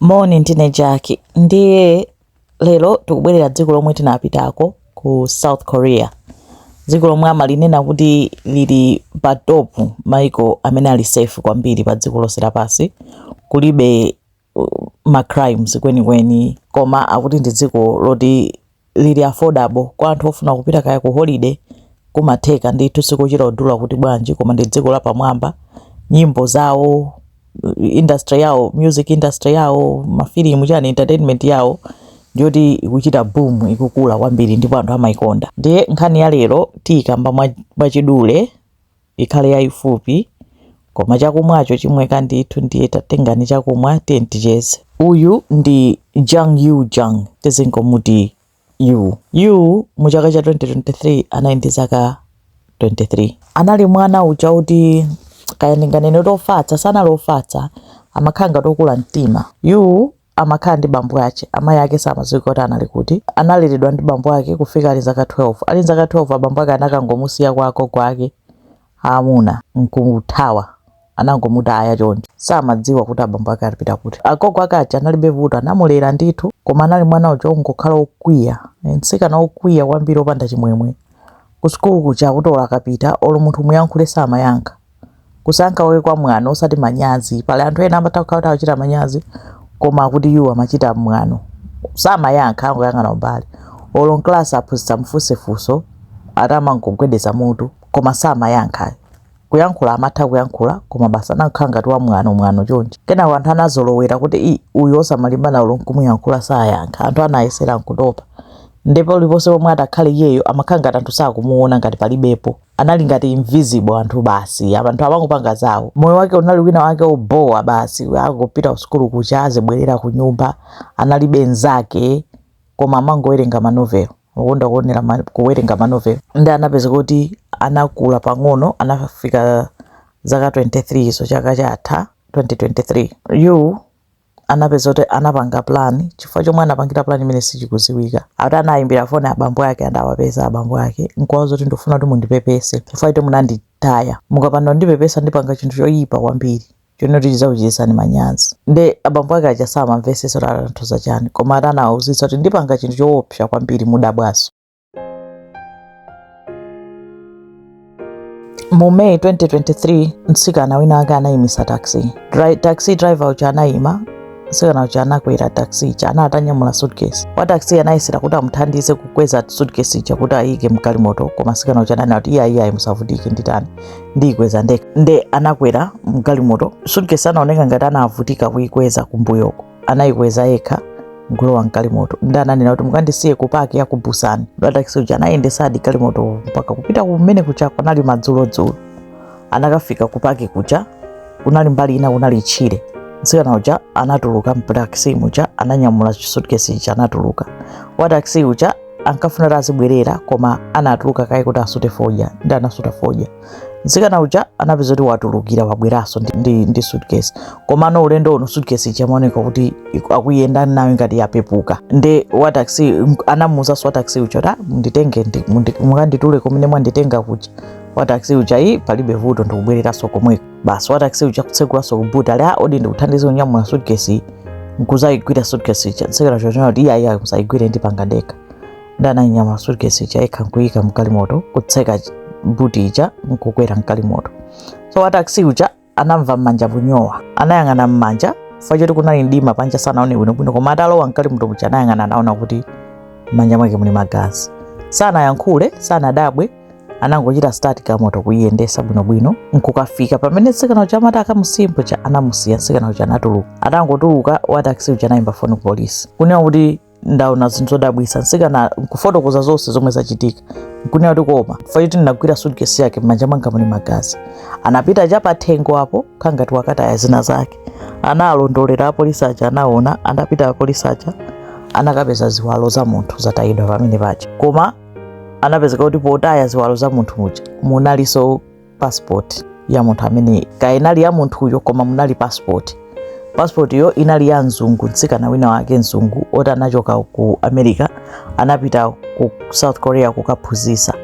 Moni ndine Jaki ndiye lero tikubwerera dziko lomwe tinapitako ku South Korea dziko lomwe amalinena kuti lili pa top maiko amene ali safe kwambiri pa dziko lonse lapansi kulibe uh, ma crimes kwenikweni koma akuti ndi dziko loti lili affordable kwa anthu ofuna kupita kaya ku holiday kumatheka ndithu sikuchita kudula kuti bwanji koma ndi dziko lapamwamba nyimbo zawo industry yawo music industry yawo mafilimu chani entertainment yawo ndiyoti ikuchita boom ikukula kwambiri ndipo anthu amayikonda ndiye nkhani ya lero tiyikamba mwachidule ikhale yaifupi koma chakumwacho chimweka ndithu ndiye tatengani chakumwa tiyeni ticheze uyu ndi Jung Yoo-jung tizingomuti Yoo Yoo mu chaka cha 2023 anali ndi zaka 23 anali mwana uja oti kaya ndinganene kuti ofatsa sanali ofatsa amakhala ngati okula mtima Yoo amakhala ndi bambo ake. Amai ake samadziwa kuti anali kuti. Analeredwa ndi bambo ake kufika ali nzaka 12. Ali nzaka 12 abambo ake anakangomusiya kwa agogo ake aamuna nkuthawa. Anangomutaya choncho. Samadziwa kuti abambo ake anapita kuti. Agogo ake aja analibe vuto, anamulera ndithu, koma anali mwana uja wongokhala wokwiya. Mtsikana wokwiya kwambiri wopanda chimwemwe. Kusukulu kuja akuti olo akapita, olo munthu umuyankhule samayankha. Kusayankha kwake kwa mwano osati manyazi. Pali anthu ena amatha kukhala kuti akuchita manyazi koma akuti iwo amachita mwano. Samayankha angoyang'ana kumbali. Olo mklasi aphunzitsi amufunse funso ati amangogwedeza mutu koma samayankha ayi. Kuyankhula amatha kuyankhula koma basi anangokhala ngati wa mwano mwano chonchi. Kenako anthu anazolowera kuti ii uyu osamalimbana olo nkumuyankhula sayankha. Anthu anayesera nkutopa. Nde paliponse pomwe atakhale iyeyo amakhala ngati anthu sakumuona ngati palibepo. anali ngati invisible anthu basi anthu amangopanga zawo moyo wake unali wina wake obowa basi akupita kusukulu kuja azibwerera ku nyumba analibe nzake koma amangowerenga manovel amakonda kuonera kuwerenga manovel ndiye anapezeka kuti anakula pang'ono anafika zaka 23 so chaka chatha 2023 Yoo anapezeka kuti anapanga plan chifukwa chomwe anapangira plan imene sichikuziwika ati anayimbira foni abambo ake atawapeza abambo ake nkuwauza kuti ndikufuna kuti mundipepese chifukwa choti munanditaya mukapanda kundipepesa ndipanga chinthu choyipa kwambiri chonena kuti chizakuchititsani manyazi nde abambo ake aja samamvesesa kuti akutanthauza chani koma ati anawauzitsa kuti ndipanga chinthu choopsa kwambiri mudabwaso mu may 2023 mtsikana wina wake anayimisa taxi taxi driver uja anayima mtsikana uja anakwera taxi ija ana atanyamula suitcase wa taxi anayesera kuti amuthandize kukweza suitcase ija kuti ayike mgalimoto koma mtsikana uja ananena kuti iyayi ayi musavutike nditani ndiyikweza ndekha nde anakwera mgalimoto suitcase anaoneka ngati anavutika kuyikweza kumbuyoko anayikweza yekha nkulowa mgalimoto nde ananena kuti mukandisiye ku paki ya ku busani nde wa takisi uja anayendesadi galimoto mpaka kupita kumene kuja kunali madzulodzulo anakafika ku paki kuja kunali mbali ina kunali tchire mtsikana uja anatuluka mtakisi muja ananyamula chisutkesi chija anatuluka wa takisi uja ankafuna kuti azibwerera koma anatuluka kaye kuti asute fodya nde anasuta fodya Mtsikana uja anapeza kuti watulukira wabweranso ndi, ndi, ndi suitcase komano ulendo uno suitcase ija amaoneka kuti iku- akuyenda nayo ngati yapepuka nde wa taxi m- anamuuzanso wa taxi uja kuti munditenge ndi- mundi- mukanditule kumene mwanditenga kuja wa taxi uja ayi palibe vuto ndikubwereranso komweko basi wa taxi uja kutsegulanso kubuti ali a odi ndikuthandize kunyamula suitcase iyi nkuzayigwira suitcase ija mtsikana uja anati iyayi ayi musayigwire ndipanga ndekha nde ananyamula suitcase ija yekha nkuyika mgalimoto kutseka ch- buti ija nkukwera mgalimoto so wa taxi uja anamva m'manja kunyowa anayang'ana m'manja chifukwa choti kunali mdima panja sanaone bwinobwino koma atalowa mgalimoto uja anayang'ana anaona kuti m'manja mwake muli magazi sanayankhule sanadabwe anangochita start galimoto kuyiyendesa bwinobwino nkukafika pamene mtsikana uja amati akamusiyepo paja anamusiya mtsikana uja anatuluka atangotuluka wa taxi uja anayimba foni ku polisi kunena kuti ndaona zinthu zodabwitsa mtsikana nkufotokoza zonse zomwe zachitika nkunena kuti koma chifukwa choti ndinagwira suitcase yake m'manja mwanga muli magazi anapita chapathengo apo kukhala ngati wakataya zina zake analondolera apolisi aja anaona anapita apolisi aja anakapeza ziwalo za munthu zatayidwa pamene paja koma anapezeka kuti potaya ziwalo za munthu muja munalinso passport ya munthu amene kaya inali ya munthuyo koma munali passport passport yo inali ya mzungu mtsikana wina wake mzungu oti anachoka ku america anapita ku south korea kukaphunzisa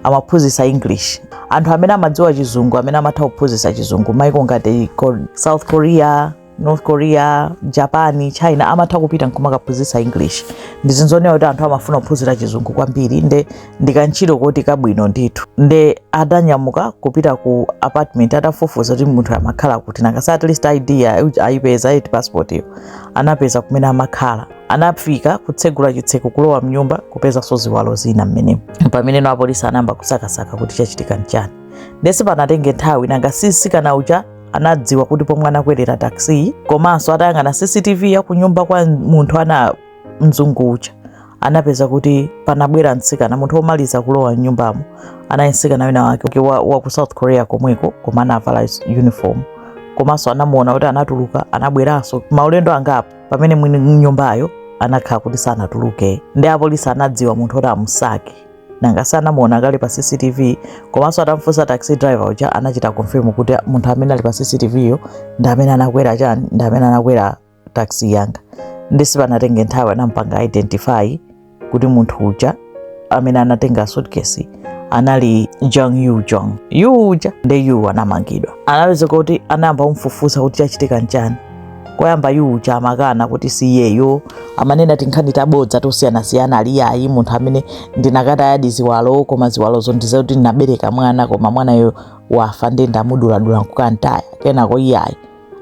amaphunzisa english anthu amene amadziwa chizungu amene amatha kuphunzisa chizungu maiko ngati ko- south korea north korea japan china amatha kupita nkumakaphunzitsa english ndi zinthu zooneka kuti anthu amafuna kuphunzira chizungu kwambiri nde ndikantchito koti kabwino ndithu nde adanyamuka kupita ku apartment atafufuza kuti munthu amakhala kuti nanga si at least id ya- ayipeza eti passport iyo anapeza kumene amakhala anafika kutsegula chitseko kulowa mnyumba kupezanso ziwalo zina mmenemo pameneno apolisi anayamba kusakasaka kuti chachitika nchani nde sipanatenge nthawi nanga si mtsikana uja anadziwa kuti pomwe anakwerera taxi komanso atayang'ana cctv ya kunyumba kwa munthu ana mzungu uja anapeza kuti panabwera mtsikana munthu womaliza kulowa mnyumbamo anali mtsikana wina wake wa, wa ku south korea komweko koma anavala is- uniform komanso anamuona kuti anatuluka anabweranso maulendo angapo pamene mwini nyumbayo anakhala kuti sanatuluke nde apolisi anadziwa munthu oti amusake nanga si anamuona kale pa cctv komanso atamfunsa taxi driver uja anachita confirm kuti munthu amene ali pa cctv yo ndi amene anakwera chani ndi amene anakwera taxi yanga nde sipanatenge nthawi anampanga identify kuti munthu uja amene anatenga suitcase anali Jung Yoo Jung. Yoo uja nde Yoo anamangidwa. Anapezeka kuti anayamba kumfufuza kuti chachitika nchani. koyamba Yoo uja amakana kuti si iyeyo amanena tinkhani tabodza tosiyanasiyana ali ayi munthu amene ndinakatayadi ziwalo koma ziwalozo ndizoti ndinabereka mwana koma mwanayo wafa nde ndamuduladula nkukantaya kenako iyayi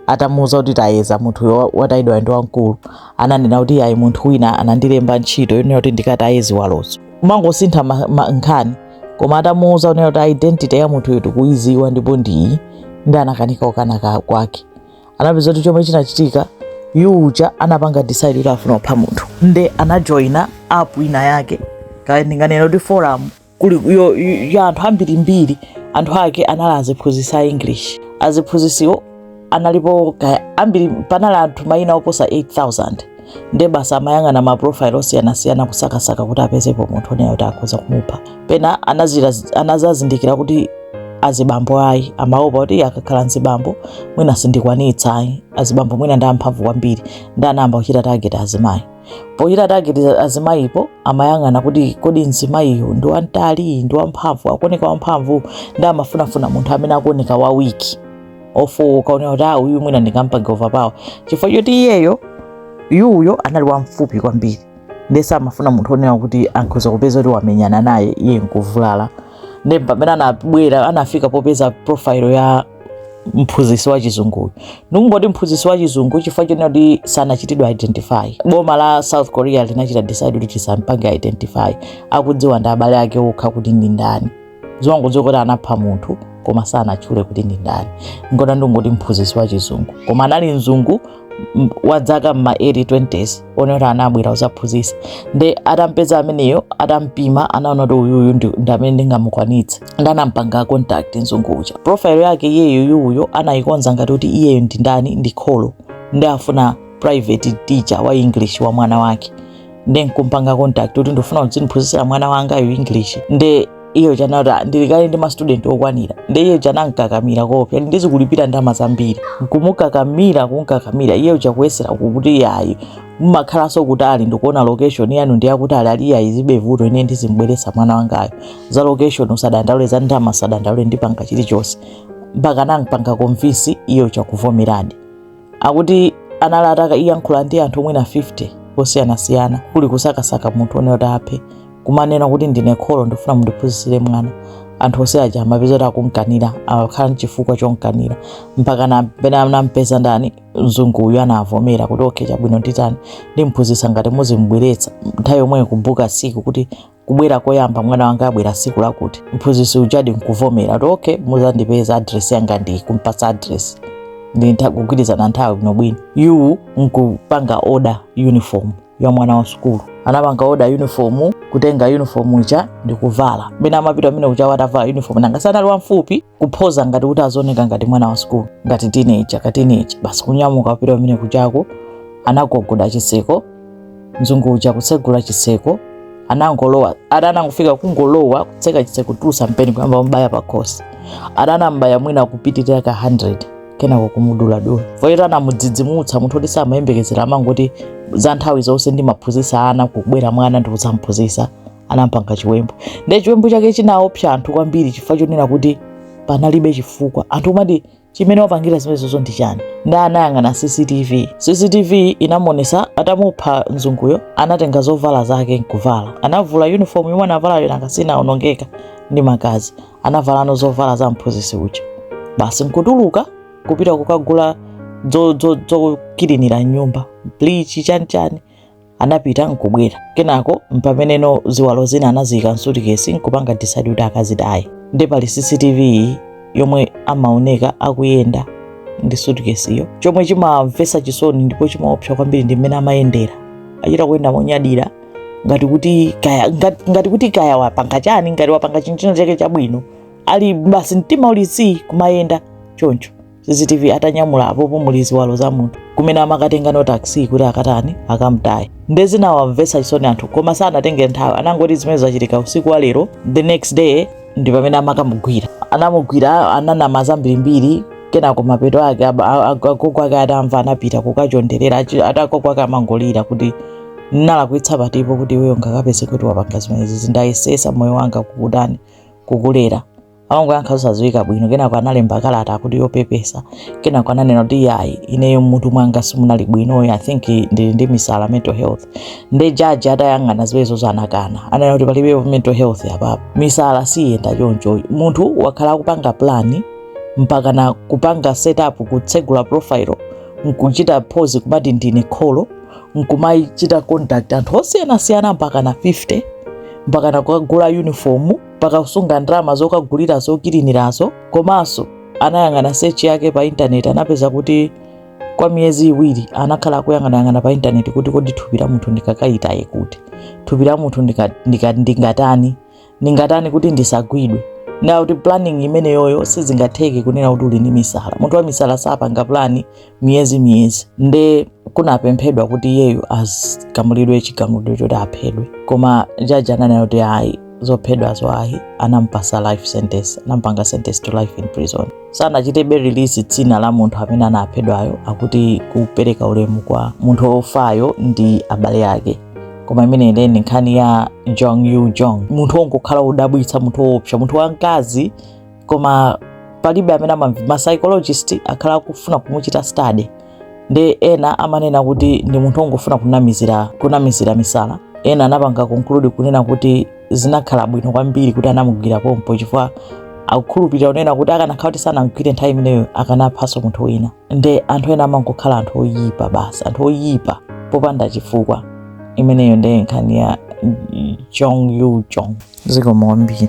atamuuza kuti tayeza munthuyo watayidwa ndi wamkulu ananena kuti iyayi munthu wina anandilemba ntchito yonena kuti ndikataye ziwalozo kumangosintha ma- ma- nkhani koma atamuuza unena kuti identity ya munthuyo tikuyidziwa ndipo ndiyi nde anakanika ukana ka- kwake anapeza kuti chomwe chinachitika Yoo uja anapanga decide kuti afuna kupha munthu nde anajoina app ina yake kaya ndinganena kuti forum kuli yo- yo- ya anthu ambirimbiri anthu ake anali aziphunzitsi a english aziphunzitsiwo analipo kaya ambiri panali anthu mayina oposa 8000 nde basi amayang'ana ma profile osiyanasiyana kusakasaka kuti apezepo munthu onena kuti akhoza kumupha pena anazazindikira kuti azibambo ayi amaopa kuti akakhala nzibambo mwina sindikwanitsa ayi azibambo mwina ndi amphamvu kwambiri nde anayamba kuchita target azimayi pochita target azimayipo amayang'ana kuti kodi mzimayiyu ndi wamtali ndi wamphamvu akuoneka wamphamvu nde amafunafuna munthu amene akuoneka wa weak ofooka onena kuti ah, uyu mwina ndingampange overpower chifukwa choti iyeyo Yoo yo anali wamfupi kwambiri ndiye samafuna munthu onena kuti akhoza kupeza kuti wamenyana naye iye nkuvulala ndiye pamene anabwera anafika popeza profile ya mphunzitsi wa chizunguyu ndikungoti mphunzitsi wa chizungu chifukwa chonena kuti sanachitidwa identify boma la south korea linachita decide kuti tisampange identify akudziwa ndi abale ake okha kuti ndi ndani timangodziwa kuti anapha munthu koma sanatchule kuti ndi ndani nkona ndingoti mphunzitsi wa chizungu koma anali mzungu m- wa dzaka mma late 20s onena anabwera uzaphunzitsa nde atampeza ameneyo atampima anaona kuti uyuyu ndi ndi amene ndingamukwanitse nde anampanga contact mzungu uja profile yake iyeyo Yoo yo anayikonza ngati kuti iyeyo ndi ndani ndi kholo nde afuna private teacher wa english wa mwana wake nde nkumpanga contact kuti ndifuna uzindiphunzitsira mwana wanga yu english nde iyo chanata ndili kale ndi mastudenti okwanira nde iyo chanamkakamira kuti pliz ndizikulipira ndama zambiri nkumukakamira kumkakamira iyo chakuyesera kuti yayi mumakhalanso kutali ndikuona location yanu ndi yakutali ali yayi zibe vuto ine ndizimbweresa mwana wangayo za location usadandaule za ndama usadandaule ndipanga chilichonse mpaka nankupanga konvinsi iyo chakuvomeradi akuti anali atakayankhula ndi anthu mwina 50 osiyanasiyana kuli kusakasaka munthu one kuti aphe kumanena kuti ndine kholo ndifuna mundiphunzitsire mwana anthu onse aja amapeza kuti akumkanira akukhala nchifukwa chomkanira mpaka pena anampeza ndani mzungu uyu anavomera kuti okay chabwino ndi tani ndimphunzitsa ngati muzimbweretsa nthawi yomweyo kubuka siku kuti kubwera koyamba mwana wanga abwera siku lakuti mphunzitsi ujadi nkuvomera kuti okay muzandipeza adresi yangadi kumpatsa adresi ndikugwirizana nthawi bwinobwino yu nkupanga oda uniform ya mwana wa sukulu anapanga oda uniform kutenga uniform uja ndikuvala mmene amapita mmene muja watavala uniform nanga si anali wamfupi kuphoza ngati kuti azioneka ngati mwana wa sukulu ngati tineja katineja basi kunyamuka wapita mmene kujako anagogoda chitseko mzungu uja kutsegula chitseko anangolowa ada anangofika kungolowa kutseka chitseko kutulusa mpeni kuyamba kumbaya pakhosi ada anambaya mwina kupitirira ka 100 kenako kumuduladula pochiti anamudzidzimutsa munthu oti samayembekezera amangoti za nthawi zonse ndimaphunzitsa ana kubwera mwana ndikudzamuphunzitsa anampanga chiwembu ndiye chiwembu chake chinaopsa anthu kwambiri chifukwa chonena kuti panalibe chifukwa anthu amati chimene wapangira zimenezozo ndi chani nde anayang'ana cctv cctv inamuonesa atamupha mzunguyo anatenga zovala zake nkuvala anavula uniform yomwe anavalayo nanga si inaonongeka ndi magazi anavalano zovala za mphunzitsi uja basi nkutuluka kupita kukagula zokilinira nyumba bleach chani chani anapita nkubwera kenako mpameneno ziwalo zina anaziyika msutikesi nkupanga decide kuti akazitaye nde pali cctv iyi yomwe amaoneka akuyenda ndi sutikesiyo chomwe chimamvesa chisoni ndipo chimaopsa kwambiri ndi mmene amayendera achita kuyenda monyadira ngati kuti kaya ngati, ngati kuti kaya wapanga chani ngati wapanga chinachake chabwino ali basi mtima uli zii kumayenda choncho cctv atanyamula apopo muli ziwalo za munthu kumene amakatenga no taxi kuti akatani akamtaye nde zinawamvetsa chisoni anthu koma sanatenge nthawi anangoti zimene zachitika usiku wa lero the next day ndi pamene amakamugwira anamugwira ananama zambirimbiri kenako mapeto ake ab- a- a- agogo ake atamva anapita kukachonderera achi- ati agogo ake amangolira kuti nalakwitsa patipo kuti iweyo ukapezeke kuti wapanga zimenezi si ndayesesa moyo wanga kukutani kukulera amangoyankha zosadziwika bwino kenako analemba kalata akuti yopepesa kenako ananena kuti yayi ineyo mutu mwanga simunali bwinoyo i think ndili ndi misala mental health nde jaji atayang'ana zimenezozo anakana ananena kuti palibepo mental health apapo misala siyenda choncho munthu wakhala akupanga plani mpaka na kupanga setup kutsegula profile nkuchita pose kumati ndine kholo nkumachita contact anthu osiyanasiyana mpaka na 50 mpaka na kukagula uniform mpaka kusunga ndalama zokagulira zokilinirazo komanso anayang'ana search yake pa intaneti anapeza kuti kwa miyezi iwiri anakhala akuyang'anayang'ana pa intaneti kuti kodi thupi la munthu ndikakayitaye kuti thupi la munthu ndika- ndika- ndingatani ndingatani kuti ndisagwidwe nde kuti planning imeneyoyo sizingatheke kunena kuti uli ndi misala munthu wa misala sapanga plani miyezi miyezi nde kunapemphedwa kuti iyeyo agamulidwe chigamulidwe choti aphedwe koma jaji ananena kuti ayi zophedwazo ayi anampasa life sentence anampanga sentence to life in prison sanachitebe release dzina la munthu amene anaphedwayo akuti kupereka ulemu kwa munthu wofayo ndi abale ake koma imeneyi nde nkhani ya jung yoo jung munthu wongokhala wodabwitsa munthu woopsa munthu wamkazi koma palibe amene amamva ma psychologist akhala akufuna kumuchita study nde ena amanena kuti ndi munthu ongofuna kunamizira kunamizira misala ena anapanga conclude kunena kuti zinakhala bwino kwambiri kuti anamugwira pompo chifukwa akukhulupirira kunena kuti akanakhala kuti sanamgwire nthawi imeneyo akanaphanso munthu wina nde anthu ena amangokhala anthu oyipa basi anthu oyipa popanda chifukwa imeneyo nde nkhani ya jung yoo jung zikomo kwambiri